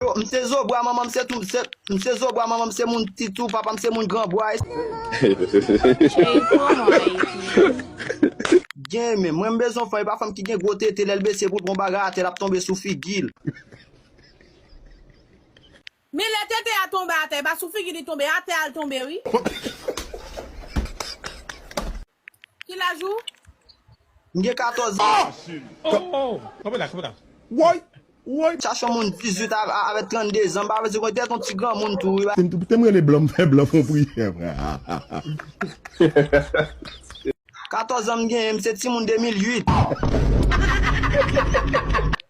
Yo, m se zo bwa manman m se tou se m se zo bwa manman m se moun ti tou papa m se moun gran bwa e Cheri pran mwen Ayiti. Gen men, mwen m bezwen fanm e pa fanm ki gen gwo tete lè l bese pou l pran yon bagay atè l ap tonbe sou figi l. Men lè tete a tonbe atè e pa sou figi li tonbe, atè a l tonbe wi. Ki laj ou? M gen 14 an. Woy! Woy! Chache yon moun 18 avèk 32 zan pa vle di konn tèt yon ti granmoun tou wi. Kite m rele blan m fè blan fon priyè vre. 14 zan m genyen m se timoun 2008.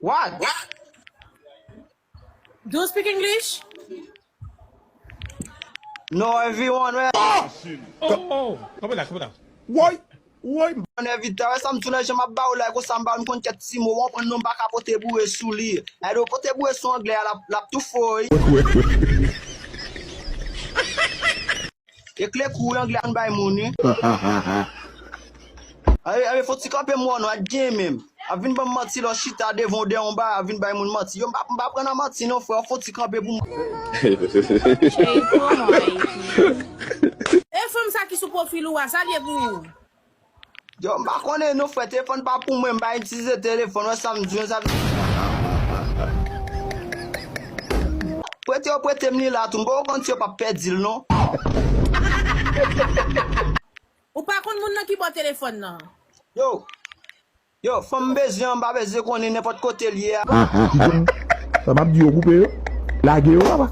What? Do you speak English? No everyone wè. Kanpe la, kanpe la. Woy, woy. Bon evit ta wè sa m tou lè jan map ba ou like ou sa m ba ou m konn kèk ti mo ou konprann nou m pa ka pote boure sou li e do pote boure sou anglè a lap tou fò wi. E kle kou wi anglè an bay moun wi. Anmweyy fon ti kanpe mwen wè non ak gen menm ap vin banm manti lè w chita devan w dèyè yon bagay ap vin bay moun manti yo m pa m pa pran nan manti non freo fon ti kanpe pou Jay promo Haiti. E fanm sa ki sou profil ou a, sa l ye pou ou? Yo m pa konnen non frè telefòn pa pou mwen m pa itilize telefòn wè sam diw sa vle Prete yo pretem li la tou m poko konn si yo pap pèdil non. Ou pa konn moun nan ki baw telefòn nan. Yo Yo fanm m bezwen an m pa bezwen konnen nenpòt kotel ye a. Ahh kite m Sa map di yo koupe yo Lage yo papa.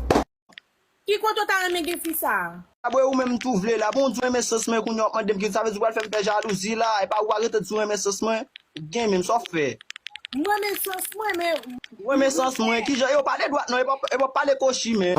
Ki kote w ta renmen gen fi sa a? Abwe ou menm tou vle la. Bon ou t renmen sans mwen kounya wap mandem kisa sa vle di ou pral fèm fè jalouzi la epa ou pa rete di ou renmen sans mwen ou gen menm sa w fè. M renmen sans mwen men. Ou renmen sans mwen kijan yo pale dwat non epa w pale kochi men.